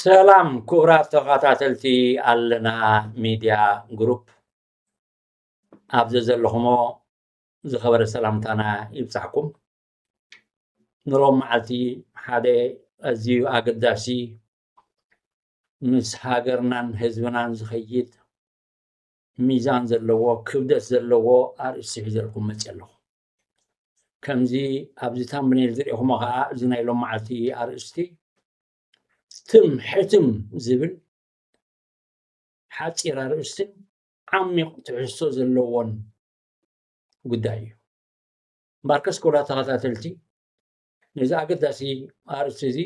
ሰላም ክቡራት ተኸታተልቲ ኣለና ሚድያ ግሩፕ ኣብ ዘዘለኹሞ ዝኸበረ ሰላምታና ይብፃሕኩም ንሮም መዓልቲ ሓደ ኣዝዩ ኣገዳሲ ምስ ሃገርናን ህዝብናን ዝኸይድ ሚዛን ዘለዎ ክብደት ዘለዎ ኣርእስቲ ሒዘልኩም መጺኣ ኣለኹ። ከምዚ ኣብዚ ታምብኔል ዝርኤኹሞ ከኣ እዚ ናይ ሎማዓልቲ ኣርእስቲ ትም ሕትም ዝብል ሓጺር ኣርእስትን ዓሚቕ ትሕዝቶ ዘለዎን ጉዳይ እዩ። እምበኣርከስ ክቡራት ተኸታተልቲ ነዚ ኣገዳሲ ኣርእስቲ እዚ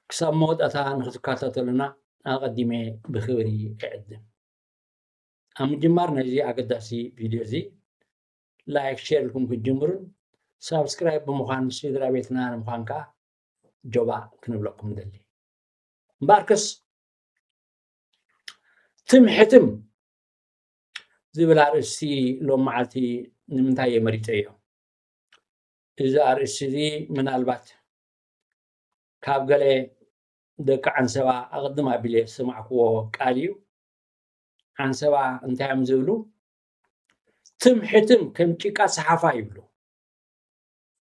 ክሳብ መወዳእታ ንክትከታተሉና ኣቐዲመ ብክብሪ እዕድም። ኣብ ምጅማር ናይዚ ኣገዳሲ ቪድዮ እዚ ላይክ ሼር ኢልኩም ክትጅምሩን ሳብስክራይብ ብምዃን ስድራ ቤትና ንምዃን ከዓ ጆባ ክንብለኩም ንደሊ እምበኣርከስ ትምሕትም ዝብል ኣርእስቲ ሎም መዓልቲ ንምንታይ እየ መሪፀዮ እዚ ኣርእስቲ እዚ ምናልባት ካብ ገለ ደቂ ዓንሰባ ኣቐድም ኣቢለ ዝሰማዕክዎ ቃል እዩ ዓንሰባ እንታይ እዮም ዝብሉ ትም ሕትም ከም ጭቃ ሰሓፋ ይብሉ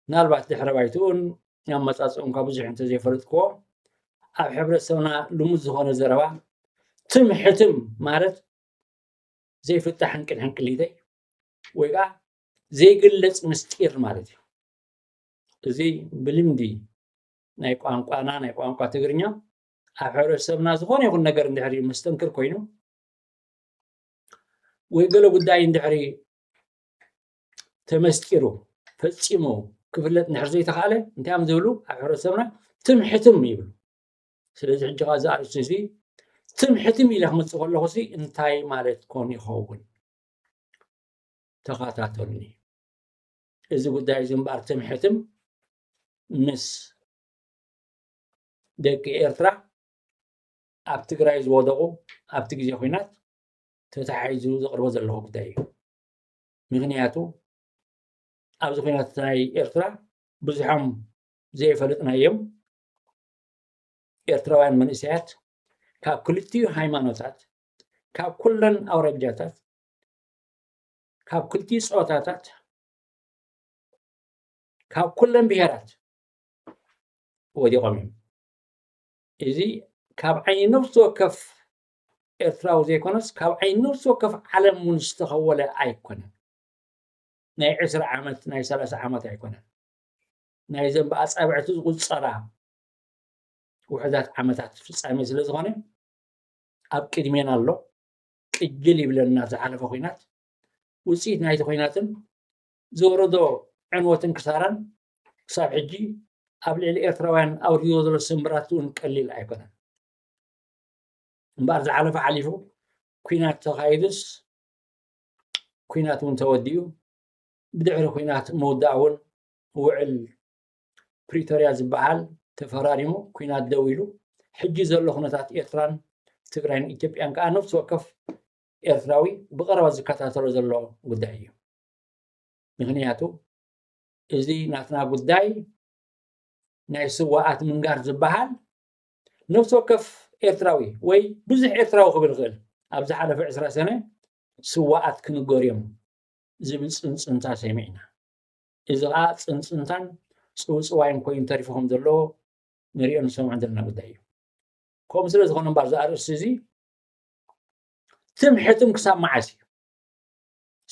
ምናልባት ድሕረ ባይትኡን ኣመፃፅኡን ካብ ብዙሕ እንተዘይፈለጥክዎ ኣብ ሕብረተሰብና ልሙድ ዝኾነ ዘረባ ትም ሕትም ማለት ዘይፍታሕ ሕንቅል ሕንቅሊተይ ወይ ከዓ ዘይግለፅ ምስጢር ማለት እዩ እዚ ብልምዲ ናይ ቋንቋና ናይ ቋንቋ ትግርኛ ኣብ ሕብረተሰብና ዝኾነ ይኹን ነገር እንድሕሪ መስተንክር ኮይኑ ወይ ገለ ጉዳይ እንድሕሪ ተመስጢሩ ፈፂሙ ክፍለጥ እንድሕር ዘይተኽኣለ እንታይ እዮም ዝብሉ ኣብ ሕብረተሰብና ትም ሕትም ይብሉ ስለዚ ሕጂ ካ እዚ ኣርእስቲ እዚ ትም ሕትም ኢለ ክመፅእ ከለኹ ሲ እንታይ ማለት ኮን ይኸውን ተኸታተሉኒ እዚ ጉዳይ እዚ እምበኣር ትም ሕትም ምስ ደቂ ኤርትራ ኣብ ትግራይ ዝወደቑ ኣብቲ ግዜ ኩናት ተታሒዙ ዘቕርቦ ዘለኹ ጉዳይ እዩ ምክንያቱ ኣብዚ ኩናት ናይ ኤርትራ ብዙሖም ዘይፈለጥናዮም ኤርትራውያን መንእሰያት ካብ ክልቲኡ ሃይማኖታት ካብ ኩለን ኣውራጃታት ካብ ክልቲኡ ፆታታት ካብ ኩለን ብሄራት ወዲቖም እዮም። እዚ ካብ ዓይኒ ነፍሲ ወከፍ ኤርትራዊ ዘይኮነስ ካብ ዓይኒ ነፍሲ ወከፍ ዓለም እውን ዝተኸወለ ኣይኮነን። ናይ ዕስራ ዓመት ናይ ሰላሳ ዓመት ኣይኮነን። ናይ ዘን ብኣጻብዕቲ ዝቑጸራ ውሕዳት ዓመታት ፍጻሜ ስለ ዝኾነ ኣብ ቅድሜና ኣሎ ቅጅል ይብለና ዝሓለፈ ኩናት ውፅኢት ናይቲ ኩናትን ዘውረዶ ዕንወትን ክሳራን ክሳብ ሕጂ ኣብ ልዕሊ ኤርትራውያን ኣውሪድዎ ዘሎ ስምብራት እውን ቀሊል ኣይኮነን እምበኣር ዝሓለፈ ሓሊፉ ኩናት ተኻይዱስ ኩናት እውን ተወዲኡ ብድሕሪ ኩናት ምውዳእ እውን ውዕል ፕሪቶርያ ዝበሃል ተፈራሪሙ ኩናት ደው ኢሉ ሕጂ ዘሎ ኩነታት ኤርትራን ትግራይን ኢትዮጵያን ከዓ ነፍሲ ወከፍ ኤርትራዊ ብቀረባ ዝከታተሎ ዘሎ ጉዳይ እዩ ምክንያቱ እዚ ናትና ጉዳይ ናይ ስዋኣት ምንጋር ዝበሃል ነፍሲ ወከፍ ኤርትራዊ ወይ ብዙሕ ኤርትራዊ ክብል ይኽእል ኣብ ዝሓለፈ ዕስራ ሰነ ስዋኣት ክንገር እዮም ዝብል ፅንፅንታ ሰሚዕና እዚ ከዓ ፅንፅንታን ፅውፅዋይን ኮይኑ ተሪፉ ከም ዘሎ ንሪኦ ንሰምዖ ዘለና ጉዳይ እዩ ከምኡ ስለ ዝኾነ እምበር እዚ ኣርእስቲ እዚ ትም ሕትም ክሳብ መዓስ እዩ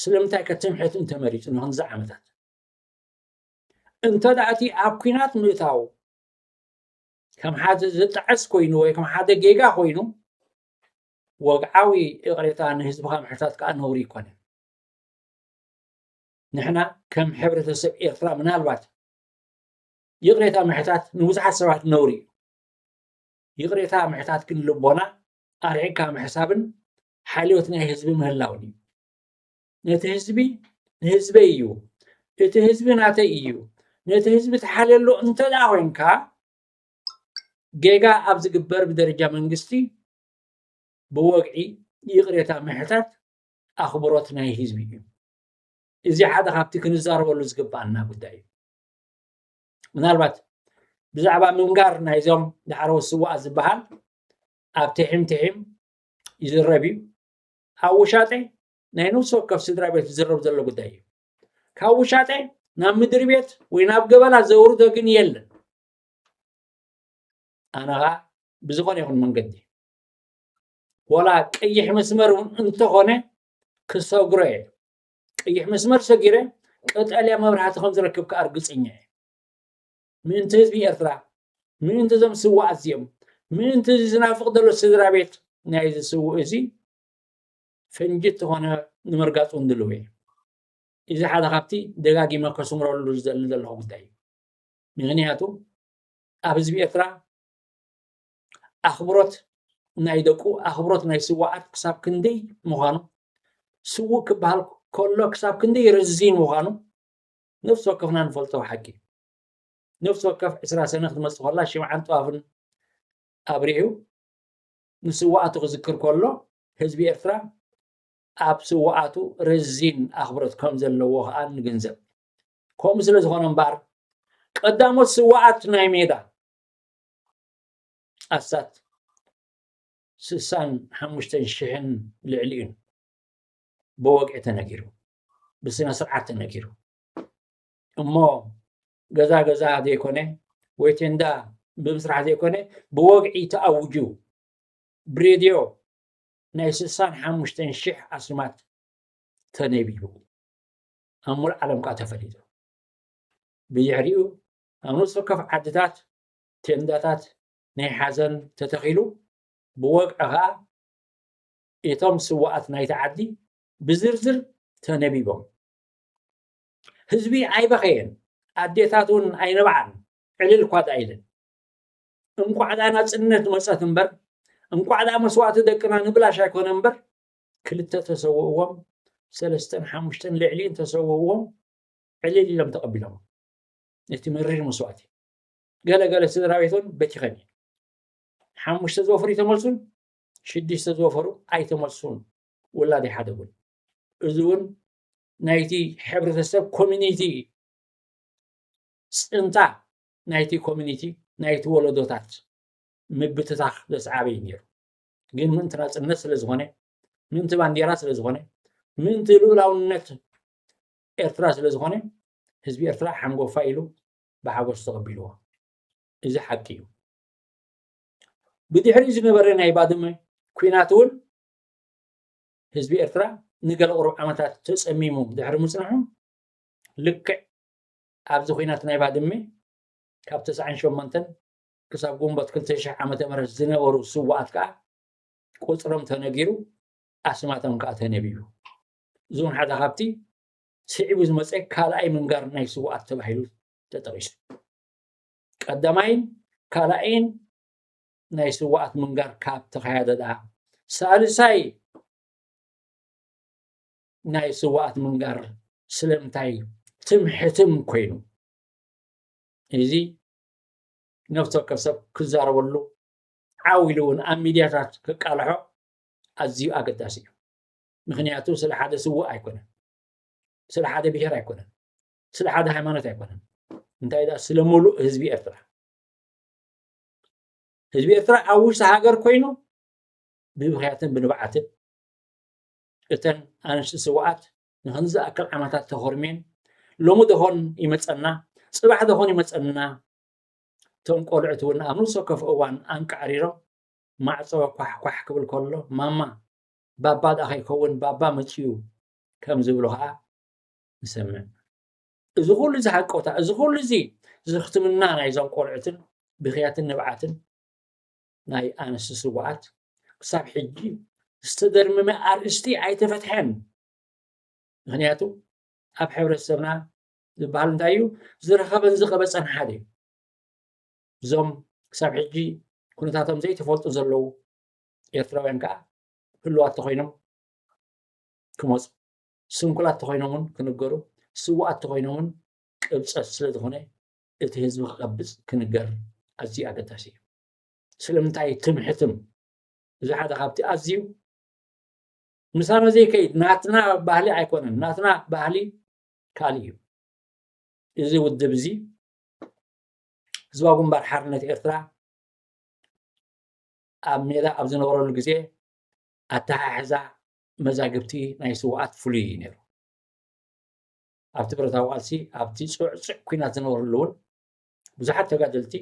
ስለምንታይ ከ ትምሕትን ተመሪጹ ንክንድዚ ዓመታት? እንተ እቲ ኣብ ኩናት ምእታው ከም ሓደ ዝጣዕስ ኮይኑ ወይ ከም ሓደ ጌጋ ኮይኑ ወግዓዊ እቕሬታ ንህዝብኻ ምሕታት ከዓ ነውሪ ይኮነ ንሕና ከም ሕብረተሰብ ኤርትራ ምናልባት ይቕሬታ ምሕታት ንብዙሓት ሰባት ነውሪ እዩ ይቕሬታ ምሕታት ግን ልቦና ኣርዒግካ ምሕሳብን ሓልዮት ናይ ህዝቢ ምህላው ድዩ? ነቲ ህዝቢ ንህዝበይ እዩ፣ እቲ ህዝቢ ናተይ እዩ፣ ነቲ ህዝቢ ትሓልየሉ እንተደኣ ኮይንካ ጌጋ ኣብ ዝግበር ብደረጃ መንግስቲ ብወግዒ ይቕሬታ ምሕታት ኣኽብሮት ናይ ህዝቢ እዩ። እዚ ሓደ ካብቲ ክንዛረበሉ ዝግባኣና ጉዳይ እዩ። ምናልባት ብዛዕባ ምንጋር ናይዞም ዳዕረዎት ስዋኣት ዝበሃል ኣብ ትሒም ትሒም ይዝረብ እዩ ኣብ ውሻጠ ናይ ነፍሲ ወከፍ ስድራ ቤት ዝዝረብ ዘሎ ጉዳይ እዩ ካብ ውሻጠ ናብ ምድሪ ቤት ወይ ናብ ገበላ ዘውርዶ ግን የለን ኣነ ከዓ ብዝኾነ ይኹን መንገዲ ወላ ቀይሕ መስመር እውን እንተኾነ ክሰግሮ እየ ቀይሕ መስመር ሰጊረ ቀጠልያ መብራህቲ ከም ዝረክብ ከዓ እርግፀኛ እየ ምእንቲ ህዝቢ ኤርትራ፣ ምእንቲ እዞም ስዉኣት እዚኦም፣ ምእንቲ እዚ ዝናፍቕ ዘሎ ስድራቤት ናይዚ ስዉእ እዚ ፈንጂ እተኾነ ንምርጋጽ እውን ድሉው እየ። እዚ ሓደ ካብቲ ደጋጊመ ከስምረሉ ዝደሊ ዘለኹ ጉዳይ እዩ። ምኽንያቱ ኣብ ህዝቢ ኤርትራ ኣኽብሮት ናይ ደቁ ኣኽብሮት ናይ ስዋኣት ክሳብ ክንደይ ምዃኑ ስውእ ክበሃል ከሎ ክሳብ ክንደይ ርዚን ምዃኑ ነፍሲ ወከፍና ንፈልጦ ሓቂ እዩ ነፍሲ ወከፍ ዕስራ ሰነ ክትመጽእ ከላ ሽምዓን ጥዋፍን ኣብሪሁ ንስዋኣቱ ክዝክር ከሎ ህዝቢ ኤርትራ ኣብ ስዋኣቱ ረዚን ኣኽብሮት ከም ዘለዎ ከኣ ንግንዘብ ከምኡ ስለ ዝኾነ እምበኣር ቀዳሞት ስዋኣት ናይ ሜዳ ኣስታት ስሳን ሓሙሽተን ሽሕን ልዕሊ እዩን ብወግዒ ተነጊሩ ብስነ ስርዓት ተነጊሩ እሞ ገዛ ገዛ ዘይኮነ ወይ ቴንዳ ብምስራሕ ዘይኮነ ብወግዒ ተኣውጁ ብሬድዮ ናይ ስሳን ሓሙሽተን ሽሕ ኣስማት ተነቢቡ ኣብ ሙሉእ ዓለም ከዓ ተፈሊጡ ብድሕሪኡ ኣብ ነፍሲ ወከፍ ዓድታት ቴንዳታት ናይ ሓዘን ተተኺሉ ብወግዒ ከዓ እቶም ስዋኣት ናይቲ ዓዲ ብዝርዝር ተነቢቦም ህዝቢ ኣይበኸየን፣ ኣዴታት እውን ኣይነብዓን፣ ዕልል እኳ ደኣ ኢለን። እንቋዕ ደኣ ናጽነት መጸት እምበር፣ እንቋዕ ደኣ መስዋእቲ ደቅና ንብላሽ ኣይኮነ እምበር፣ ክልተ ተሰውእዎም፣ ሰለስተን ሓሙሽተን ልዕሊ እንተሰውእዎም ዕልል ኢሎም ተቐቢሎሞ ነቲ መሪር መስዋእቲ። ገለ ገለ ስድራ ቤት እውን በቲኸን እየን። ሓሙሽተ ዝወፍሩ ይተመልሱን ሽዱሽተ ዝወፈሩ ኣይተመልሱን ውላድ ኣይሓደጉን። እዚ እውን ናይቲ ሕብረተሰብ ኮሚኒቲ እዩ ፅንታ ናይቲ ኮሚኒቲ ናይቲ ወለዶታት ምብትታኽ ዘስዓበዩ ነይሩ ግን ምእንቲ ናፅነት ስለ ዝኾነ ምእንቲ ባንዴራ ስለ ዝኾነ ምእንቲ ልኡላውነት ኤርትራ ስለ ዝኾነ ህዝቢ ኤርትራ ሓንጎፋ ኢሉ ብሓጎስ ተቐቢልዎ እዚ ሓቂ እዩ ብድሕሪ ዝነበረ ናይ ባድመ ኩናት እውን ህዝቢ ኤርትራ ንገለ ቁሩብ ዓመታት ተጸሚሙ ድሕሪ ምጽንሑ፣ ልክዕ ኣብዚ ኩናት ናይ ባድመ ካብ ተስዓን ሸሞንተን ክሳብ ግንቦት ክልተ ሽሕ ዓመተ ምህረት ዝነበሩ ስዉኣት ከኣ ቁጽሮም ተነጊሩ፣ ኣስማቶም ከኣ ተነቢቡ። እዚ እውን ሓደ ካብቲ ስዒቡ ዝመጸ ካልኣይ ምንጋር ናይ ስዉኣት ተባሂሉ ተጠቒሱ። ቀዳማይን ካልኣይን ናይ ስዋኣት ምንጋር ካብ ተኻያደ ደኣ ሳልሳይ ናይ ስዋኣት ምንጋር ስለምንታይ ትም ሕትም ኮይኑ እዚ ነፍሲ ወከፍ ሰብ ክዛረበሉ ዓው ኢሉ እውን ኣብ ሚድያታት ክቃልሖ ኣዝዩ ኣገዳሲ እዩ ምክንያቱ ስለ ሓደ ስዋእ ኣይኮነን ስለ ሓደ ብሄር ኣይኮነን ስለ ሓደ ሃይማኖት ኣይኮነን እንታይ ዳ ስለ ሙሉእ ህዝቢ ኤርትራ ህዝቢ ኤርትራ ኣብ ውሽጢ ሃገር ኮይኑ ብምክንያትን ብንብዓትን እተን ኣንስቲ ስውኣት ንክንዲ ዝኣክል ዓመታት ተኾርሜን ሎሚ ደኾን ይመፀና ፅባሕ ደኾን ይመፀና እቶም ቆልዑት እውን ኣብ ነብሲ ወከፍ እዋን ኣንቃዕሪሮም ማዕፆ ኳሕኳሕ ክብል ከሎ ማማ ባባ ደኣ ከይከውን ባባ መፅኡ ከም ዝብሉ ከዓ ንሰምዕ እዚ ኩሉ እዚ ሃቀውታ እዚ ኩሉ እዚ ዝኽትምና ናይዞም ቆልዑትን ብክያትን ንብዓትን ናይ ኣንስቲ ስውኣት ክሳብ ሕጂ ዝተደርመመ ኣርእስቲ ኣይተፈትሐን ምክንያቱ ኣብ ሕብረተሰብና ዝበሃል እንታይ እዩ ዝረኸበን ዝቐበፀን ሓደ እዩ እዞም ክሳብ ሕጂ ኩነታቶም ዘይተፈልጡ ዘለዉ ኤርትራውያን ከዓ ህልዋት ተኮይኖም ክመፁ ስንኩላት ተኾይኖም ውን ክንገሩ ስውኣት ተኾይኖም ውን ቅብጸት ስለ ዝኾነ እቲ ህዝቢ ክቀብጽ ክንገር ኣዝዩ ኣገዳሲ እዩ ስለምንታይ ትምሕትም እዚ ሓደ ካብቲ ኣዝዩ ምሳና ዘይከይድ ናትና ባህሊ ኣይኮነን ናትና ባህሊ ካልእ እዩ እዚ ውድብ እዚ ህዝባዊ ግንባር ሓርነት ኤርትራ ኣብ ሜዳ ኣብ ዝነበረሉ ግዜ ኣተሓሕዛ መዛግብቲ ናይ ስውኣት ፍሉይ እዩ ነይሩ። ኣብቲ ብረታዊ ቃልሲ ኣብቲ ፅዕፅዕ ኩናት ዝነበረሉ እውን ብዙሓት ተጋደልቲ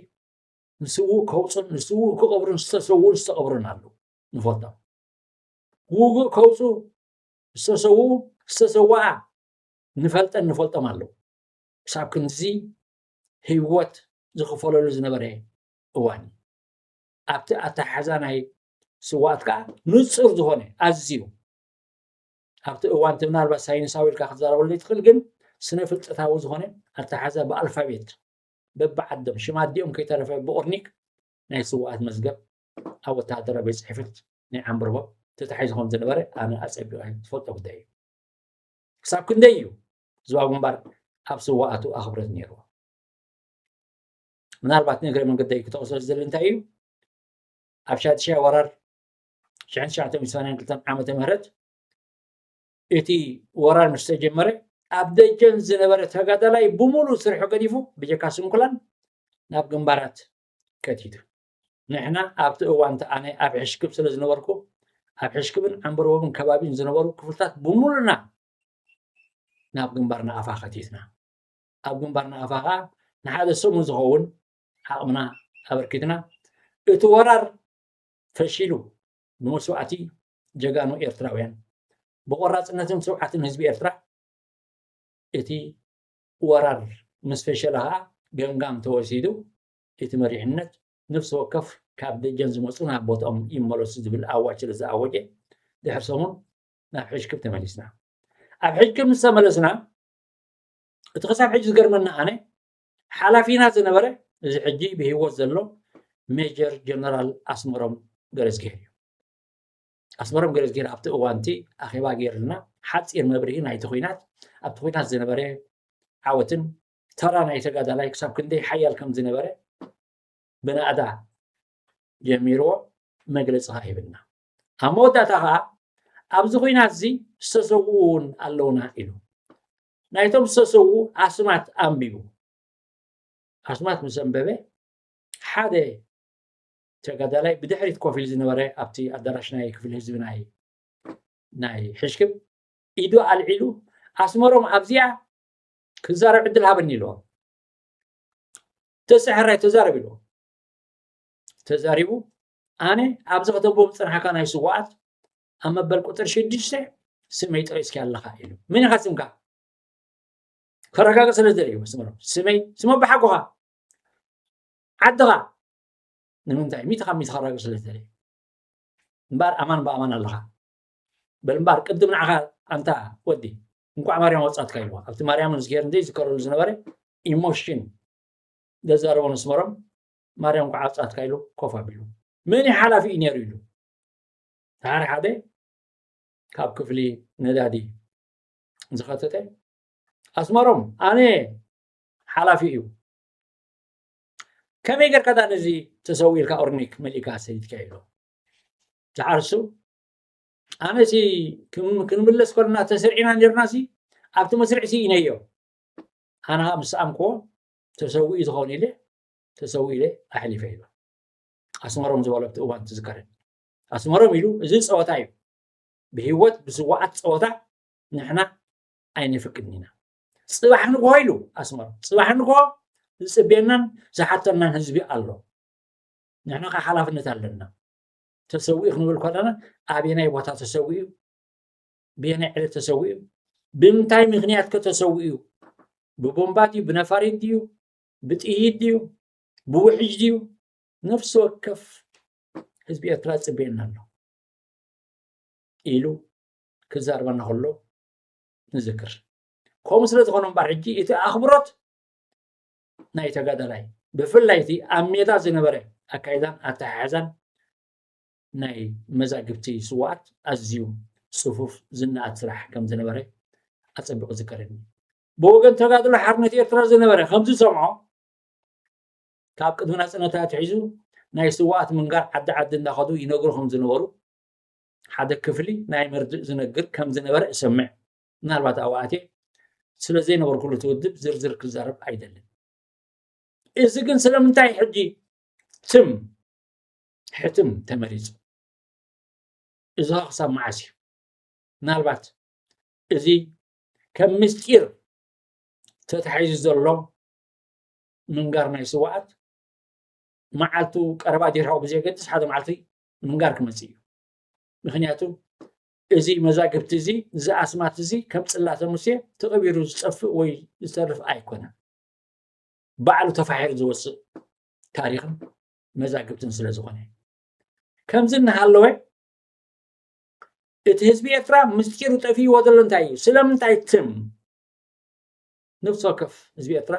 ንስውእ ከውፁን ንስውእ ክቐብሩን ዝተሰውኡን ዝተቐብሩን ኣሉ ንፈልጦም ውግእ ከውፁ ዝተሰው ዝተሰውኣ ንፈልጠን ንፈልጦም ኣለዉ ክሳብ ክንዚ ህይወት ዝኽፈለሉ ዝነበረ እዋን ኣብቲ ኣተሓሕዛ ናይ ስውኣት ከዓ ንፁር ዝኾነ ኣዝዩ ኣብቲ እዋን እቲ ምናልባት ሳይንሳዊ ኢልካ ክትዛረበሉ ዘይትኽእል ግን ስነ ፍልጠታዊ ዝኾነ ኣተሓዛ ብኣልፋቤት በብዓዶም ሽም ኣዲኦም ከይተረፈ ብኦርኒክ ናይ ስውኣት መዝገብ ኣብ ወተሃደራ ቤት ፅሕፈት ናይ ዓምብርቦ ተታሒዙ ከም ዝነበረ ኣነ ኣፀቢቐ ዝፈልጦ ጉዳይ እዩ ክሳብ ክንደይ እዩ ዝዋ ግንባር ኣብ ስዋኣቱ ኣኽብረት ነይርዎ ምናልባት ንእግረ መንገደይ ክተቕሶ ዝደሊ እንታይ እዩ ኣብ ሻድሻይ ወራር ሽሕን ትሽዓተ ሚእቲ ሰማንያን ክልተን ዓመተ ምህረት እቲ ወራር ምስ ተጀመረ ኣብ ደጀን ዝነበረ ተጋዳላይ ብምሉእ ስርሑ ገዲፉ ብጀካ ስንኩላን ናብ ግንባራት ከቲቱ ንሕና ኣብቲ እዋንቲ ኣነ ኣብ ሕሽክብ ስለ ዝነበርኩ ኣብ ሕሽክብን ዓንበርቦብን ከባቢን ዝነበሩ ክፍልታት ብምሉና ናብ ግንባር ንኣፋ ከቲትና ኣብ ግንባር ንኣፋ ከዓ ንሓደ ሰሙን ዝኸውን ዓቕምና ኣበርኪትና እቲ ወራር ፈሺሉ ብመስዋእቲ ጀጋኑ ኤርትራውያን ብቆራፅነትን ስውዓትን ህዝቢ ኤርትራ እቲ ወራር ምስ ፈሸለ ከዓ ገምጋም ተወሲዱ እቲ መሪሕነት ነፍሲ ወከፍ ካብ ደጀን ዝመፁ ናብ ቦትኦም ይመለሱ ዝብል ኣዋጅ ስለ ዝኣወጀ ድሕሪ ሰሙን ናብ ሕጅክብ ተመሊስና ኣብ ሕጅክብ ምስ ተመለስና እቲ ክሳብ ሕጂ ዝገርመና ኣነ ሓላፊና ዝነበረ እዚ ሕጂ ብህይወት ዘሎ ሜጀር ጀነራል ኣስመሮም ገረዝጊሄር እዩ። ኣስመሮም ገረዝጊሄር ኣብቲ እዋንቲ ኣኼባ ገይርልና ሓፂር መብርሂ ናይቲ ኩናት ኣብቲ ኩናት ዝነበረ ዓወትን ተራ ናይ ተጋዳላይ ክሳብ ክንደይ ሓያል ከም ዝነበረ ብናእዳ ጀሚርዎ መግለፂ ከዓ ይብልና ኣብ መወዳእታ ከዓ ኣብዚ ኩናት እዚ ዝተሰውኡ እውን ኣለውና ኢሉ ናይቶም ዝተሰዉ ኣስማት ኣንቢቡ። ኣስማት ምስ ኣንበበ ሓደ ተጋዳላይ ብድሕሪት ኮፍ ኢሉ ዝነበረ ኣብቲ ኣዳራሽ ናይ ክፍሊ ህዝቢ ናይ ናይ ሕሽክም ኢዱ ኣልዒሉ ኣስመሮም ኣብዚኣ ክዛረብ ዕድል ሃበኒ ኢልዎ ተሰሐራይ ተዛረብ ኢልዎ ተዛሪቡ ኣነ ኣብዚ ከተቦ ምፅናሕካ ናይ ስዋኣት ኣብ መበል ቁፅሪ ሽዱሽተ ስመይ ጠቂስኪ ኣለኻ ኢሉ መን ኢኻ ስምካ ከረጋግፅ ስለ ዝደልዩ መስመሮም ስመይ ስመ ብሓጎኻ ዓድኻ ንምንታይ ሚእቲ ካብ ሚእቲ ከረጋግፅ ስለ ዝደልዩ እምበኣር ኣማን ብኣማን ኣለኻ በል እምበኣር ቅድም ንዓኻ ኣንታ ወዲ እንኳዕ ማርያም ወፃትካ ኢልዋ ኣብቲ ማርያምን ዝገር እንዘይ ዝከረሉ ዝነበረ ኢሞሽን ዘዛረቦ መስመሮም ማርያም እንኳዕ ወፃትካ ኢሉ ኮፍ ኣቢሉ መን ሓላፊ እዩ ነይሩ ኢሉ ሓደ ሓደ ካብ ክፍሊ ነዳዲ ዝኸተተ ኣስመሮም ኣነ ሓላፊ እዩ ከመይ ጌርካ ዳ ነዚ ተሰዊ ኢልካ ኦርኒክ መሊእካ ሰሊትካ ኢሎ ዝዓርሱ ኣነ ሲ ክንምለስ ከለና ተስርዒና ነርና ሲ ኣብቲ መስርዕ ሲ ኢነዮ ኣነ ከዓ ምስ ኣምክዎ ተሰዊኡ ዝኸውን ኢለ ተሰዊ ኢለ ኣሕሊፈ ኢሎ ኣስመሮም ዝበሎ ኣብቲ እዋን ትዝከረኒ ኣስመሮም ኢሉ እዚ ፀወታ እዩ ብሂወት ብስዋኣት ፀወታ ንሕና ኣይነፍቅድን ኢና ፅባሕ ንግሆ ኢሉ ኣስመሮም ፅባሕ ንግሆ ዝፅብየናን ዝሓተናን ህዝቢ ኣሎ ንሕና ከዓ ሓላፍነት ኣለና ተሰዊኡ ክንብል ከለና ኣበየናይ ቦታ ተሰዊኡ ብየናይ ዕለት ተሰዊኡ ብምንታይ ምክንያት ከ ተሰዊኡ ብቦምባ ድዩ ብነፋሪት ድዩ ብጥይት ድዩ ብውሕጅ ድዩ ነፍሲ ወከፍ ህዝቢ ኤርትራ ጽበየና ኣሎ ኢሉ ክዛርበና ከሎ ንዝክር ከምኡ ስለ ዝኾነ እምበር ሕጂ እቲ ኣኽብሮት ናይ ተጋዳላይ ብፍላይ እቲ ኣብ ሜዳ ዝነበረ ኣካይዳን ኣተሓሕዛን ናይ መዛግብቲ ስዋኣት ኣዝዩ ፅፉፍ ዝነኣድ ስራሕ ከም ዝነበረ ኣፀቢቑ ዝከረኒ ብወገን ተጋድሎ ሓርነት ኤርትራ ዝነበረ ከምዝሰምዖ ካብ ቅድሚ ናጽነት ኣትሒዙ ናይ ስውኣት ምንጋር ዓዲ ዓዲ እንዳኸዱ ይነግሩ ከም ዝነበሩ ሓደ ክፍሊ ናይ መርድእ ዝነግር ከም ዝነበረ እሰምዕ። ምናልባት ኣብኡ ኣትየ ስለ ዘይነበርኩሉ እቲ ውድብ ዝርዝር ክዛረብ ኣይደልን። እዚ ግን ስለምንታይ ሕጂ ትም ሕትም ተመሪጹ? እዚ ኸ ክሳብ መዓስ እዩ? ምናልባት እዚ ከም ምስጢር ተታሒዙ ዘሎ ምንጋር ናይ ስዋኣት መዓልቱ ቀረባ ዲርሃዊ ብዘየገድስ ሓደ መዓልቲ ምንጋር ክመፅእ እዩ ምክንያቱ እዚ መዛግብቲ እዚ እዚ ኣስማት እዚ ከም ፅላተ ሙሴ ተቐቢሩ ዝፀፍእ ወይ ዝተርፍ ኣይኮነን ባዕሉ ተፋሒሩ ዝወፅእ ታሪክን መዛግብትን ስለ ዝኾነ ከምዚ እናሃለወ እቲ ህዝቢ ኤርትራ ምስጢሩ ጠፊእዎ ዘሎ እንታይ እዩ ስለምንታይ ትም ነፍሲ ወከፍ ህዝቢ ኤርትራ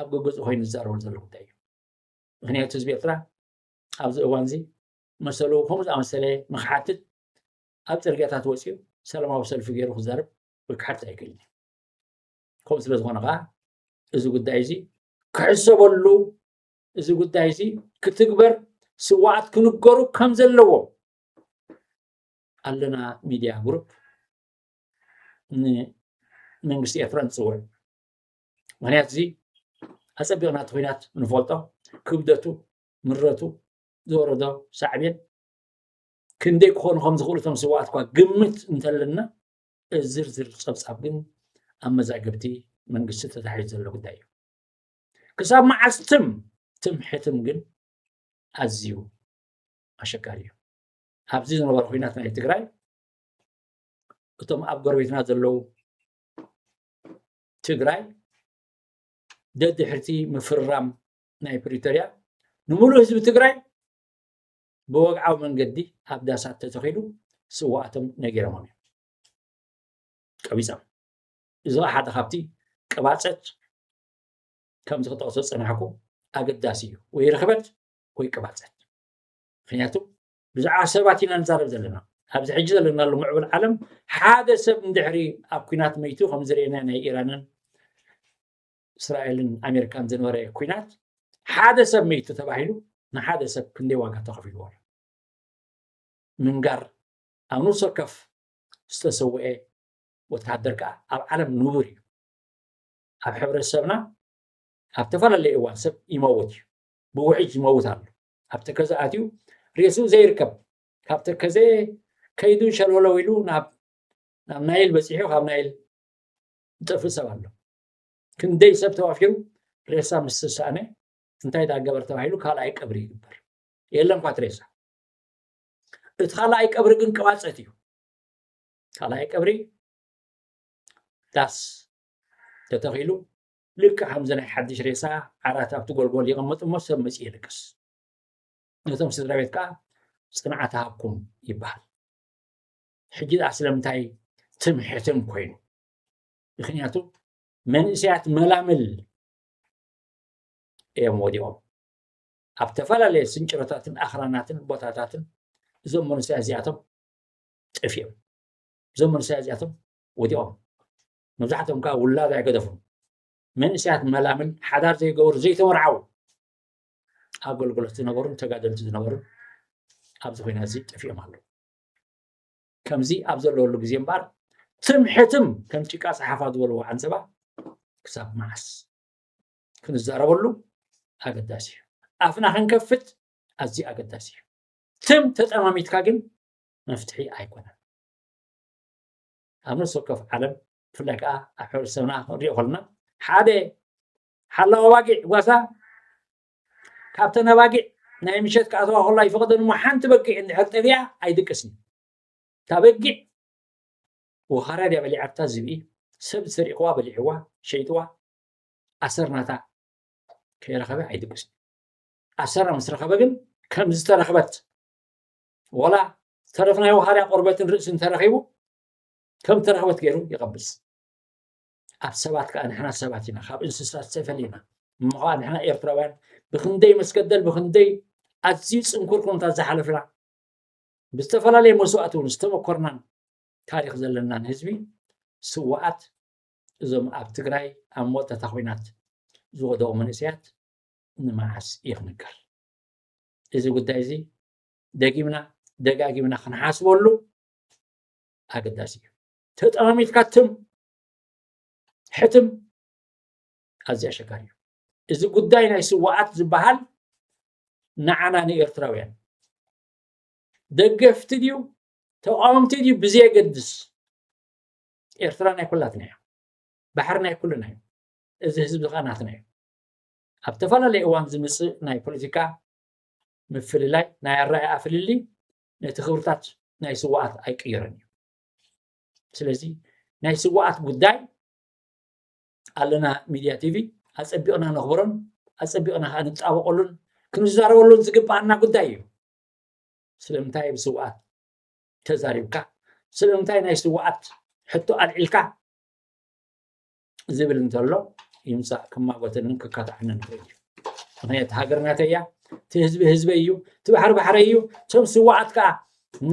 ኣብ ገገዝኡ ኮይኑ ዝዛረበሉ ዘሎ ጉዳይ እዩ። ምክንያቱ ህዝቢ ኤርትራ ኣብዚ እዋንዚ መሰሉ ከምኡ ዝኣመሰለ ንክሓትት ኣብ ጽርግያታት ወጺኡ ሰላማዊ ሰልፊ ገይሩ ክዛረብ ወይ ክሓትት ኣይክእልን እዩ። ከምኡ ስለ ዝኾነ ከዓ እዚ ጉዳይ እዚ ክሕሰበሉ እዚ ጉዳይ እዚ ክትግበር ስዋኣት ክንገሩ ከም ዘለዎ ኣለና ሚድያ ግሩፕ ንመንግስቲ ኤርትራ ንፅውዕ ምክንያት እዚ ኣፀቢቕና እቲ ኩናት ንፈልጦ ክብደቱ ምረቱ ዝወረዶ ሳዕቤን ክንደይ ክኾኑ ከም ዝኽእሉ እቶም ስዋኣት እኳ ግምት እንተለና ዝርዝር ፀብፃብ ግን ኣብ መዛግብቲ መንግስቲ ተታሒዙ ዘሎ ጉዳይ እዩ ክሳብ መዓስ ትም ትም ሕትም ግን ኣዝዩ ኣሸጋሪ እዩ ኣብዚ ዝነበረ ኩናት ናይ ትግራይ እቶም ኣብ ጎረቤትና ዘለዉ ትግራይ ደድሕርቲ ምፍርራም ናይ ፕሪቶርያ ንምሉእ ህዝቢ ትግራይ ብወግዓዊ መንገዲ ኣብ ዳሳት ተተኺሉ ስዋኣቶም ነጊሮሞም እዮም ቀቢፆም እዚ ሓደ ካብቲ ቅባፀት ከምዚ ክጠቕሶ ፀናሕኩ ኣገዳሲ እዩ ወይ ርኽበት ወይ ቅባፀት ምክንያቱ ብዛዕባ ሰባት ኢና ንዛረብ ዘለና ኣብዚ ሕጂ ዘለናሉ ምዕቡል ዓለም ሓደ ሰብ እንድሕሪ ኣብ ኩናት መይቱ ከምዚ ርኤና ናይ ኢራንን እስራኤልን ኣሜሪካን ዝነበረ ኩናት ሓደ ሰብ መይቱ ተባሂሉ ንሓደ ሰብ ክንደይ ዋጋ ተኸፊልዎ ኣሎ ምንጋር ኣብ ነፍሲ ወከፍ ዝተሰውአ ወተሃደር ከዓ ኣብ ዓለም ንቡር እዩ ኣብ ሕብረተሰብና ኣብ ተፈላለየ እዋን ሰብ ይመውት እዩ ብውሒት ይመውት ኣሎ ኣብ ተከዘ ኣትዩ ሬሱ ዘይርከብ ካብ ተከዘ ከይዱ ሸለውለው ኢሉ ናብ ናብ ናይል በፂሑ ካብ ናይል ዝጠፍእ ሰብ ኣሎ ክንደይ ሰብ ተዋፊሩ ሬሳ ምስ ዝሰኣነ እንታይ ዳገበር ተባሂሉ ካልኣይ ቀብሪ ይግበር የለን ኳት ሬሳ እቲ ካልኣይ ቀብሪ ግን ቀዋፀት እዩ ካልኣይ ቀብሪ ዳስ ተተኺሉ ልክዕ ከምዚ ናይ ሓድሽ ሬሳ ዓራት ኣብቲ ጎልጎል ይቕመጥ እሞ ሰብ መፂኡ የልቅስ። ነቶም ስድራ ቤት ከዓ ፅንዓት ሃብኩም ይበሃል። ሕጂ ደኣ ስለምንታይ ትም ሕትም ኮይኑ? ምክንያቱ መንእሰያት መላምል እዮም ወዲቖም ኣብ ተፈላለየ ስንጭሮታትን ኣኽራናትን ቦታታትን እዞም መንእሰያት እዚኣቶም ጠፊኦም እዞም መንእሰያት እዚኣቶም ወዲቖም መብዛሕቶም ከኣ ውላድ ኣይገደፉን መንእሰያት መላምል ሓዳር ዘይገበሩ ዘይተመርዓው ኣገልግሎት ዝነበሩን ተጋደልቲ ዝነበሩን ኣብዚ ኩናት እዚ ጠፊኦም ኣለዉ ከምዚ ኣብ ዘለወሉ ግዜ እምበኣር ትም ሕትም ከም ጭቃ ፀሓፋ ዝበልዎ ዓንፀባ ክሳብ መዓስ ክንዛረበሉ ኣገዳሲ እዩ ኣፍና ክንከፍት ኣዝዩ ኣገዳሲ እዩ ትም ተጠማሚትካ ግን መፍትሒ ኣይኮነን ኣብ ነፍሲ ወከፍ ዓለም ብፍላይ ከዓ ኣብ ሕብረተሰብና ክንሪኦ ከለና ሓደ ሓላዊ ኣባጊዕ ጓሳ ካብተን ኣባጊዕ ናይ ምሸት ክኣተዋ ከሎ ኣይፈቐደን እሞ ሓንቲ በጊዕ እንድሕር ጠፊኣ ኣይድቅስን እታ በጊዕ ወኻርያ ድያ በሊዓታ ዝብኢ ሰብ ዝሰሪቕዋ በሊዕዋ ሸይጥዋ ኣሰርናታ ከይረኸበ ኣይድቅስን ኣሰራ ምስ ረኸበ ግን ከም ዝተረኽበት ወላ ዝተረፍ ናይ ውሃርያ ቆርበትን ርእሲ እንተረኺቡ ከም ተረኽበት ገይሩ ይቐብስ ኣብ ሰባት ከዓ ንሕና ሰባት ኢና ካብ እንስሳት ተፈሊና እሞ ከዓ ንሕና ኤርትራውያን ብክንደይ መስገደል ብክንደይ ኣዝዩ ፅንኩር ኩነታት ዝሓለፍና ብዝተፈላለየ መስዋእቲ እውን ዝተመኮርናን ታሪክ ዘለናን ህዝቢ ስዋኣት እዞም ኣብ ትግራይ ኣብ መወዳእታ ኮይናት ዝወደቑ መንእሰያት ንመዓስ ይኽንገር እዚ ጉዳይ እዚ ደጊምና ደጋጊምና ክንሓስበሉ ኣገዳሲ እዩ ተጠማሚትካ ትም ሕትም ኣዝዩ ኣሸጋሪ እዩ እዚ ጉዳይ ናይ ስዋኣት ዝበሃል ንዓና ንኤርትራውያን ደገፍቲ ድዩ ተቃወምቲ ድዩ ብዘየገድስ ኤርትራ ናይ ኩላትና እዩ ባሕሪ ናይ ኩልና እዩ እዚ ህዝቢ ከዓ ናትና እዩ ኣብ ተፈላለየ እዋን ዝምፅእ ናይ ፖለቲካ ምፍልላይ ናይ ኣረኣእያ ፍልልይ ነቲ ክብርታት ናይ ስዋኣት ኣይቅይርን እዩ ስለዚ ናይ ስዋኣት ጉዳይ ኣለና ሚድያ ቲቪ ኣፀቢቕና ነኽብሮን ኣፀቢቕና ከዓ ንጣበቐሉን ክንዛረበሉን ዝግባኣና ጉዳይ እዩ ስለምንታይ ብስዋኣት ተዛሪብካ ስለምንታይ ናይ ስዋኣት ሕቶ ኣልዒልካ ዝብል እንተሎ ይምፃእ ክማጎተንን ክካታዕንን ይኽእል እዩ ምክንያቱ ሃገር ናተይ እያ እቲ ህዝቢ ህዝበይ እዩ እቲ ባሕሪ ባሕረይ እዩ እቶም ስዋኣት ከዓ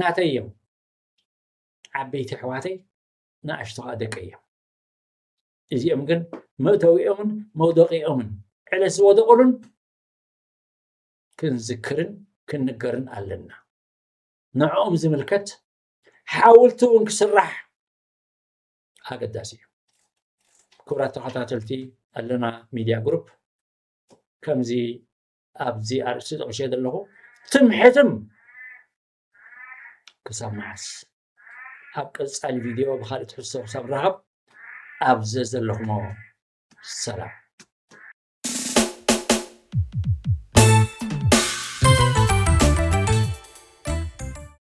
ናተይ እዮም ዓበይቲ ኣሕዋተይ ንኣሽቶ ከዓ ደቂ እዮም እዚኦም ግን መእተዊኦምን መውደቂኦምን ዕለ ዝወደቑሉን ክንዝክርን ክንገርን ኣለና ንዕኦም ዝምልከት ሓውልቲ እውን ክስራሕ ኣገዳሲ እዩ። ክቡራት ተኸታተልቲ ኣለና ሚድያ ግሩፕ ከምዚ ኣብዚ ኣርእስቲ ጠቂሸ ዘለኹ ትምሕትም ክሳብ መዓስ ኣብ ቀፃሊ ቪድዮ ብካልእ ትሕዝቶ ክሳብ ንራኸብ ኣብ ዘዘለኹሞ ሰላም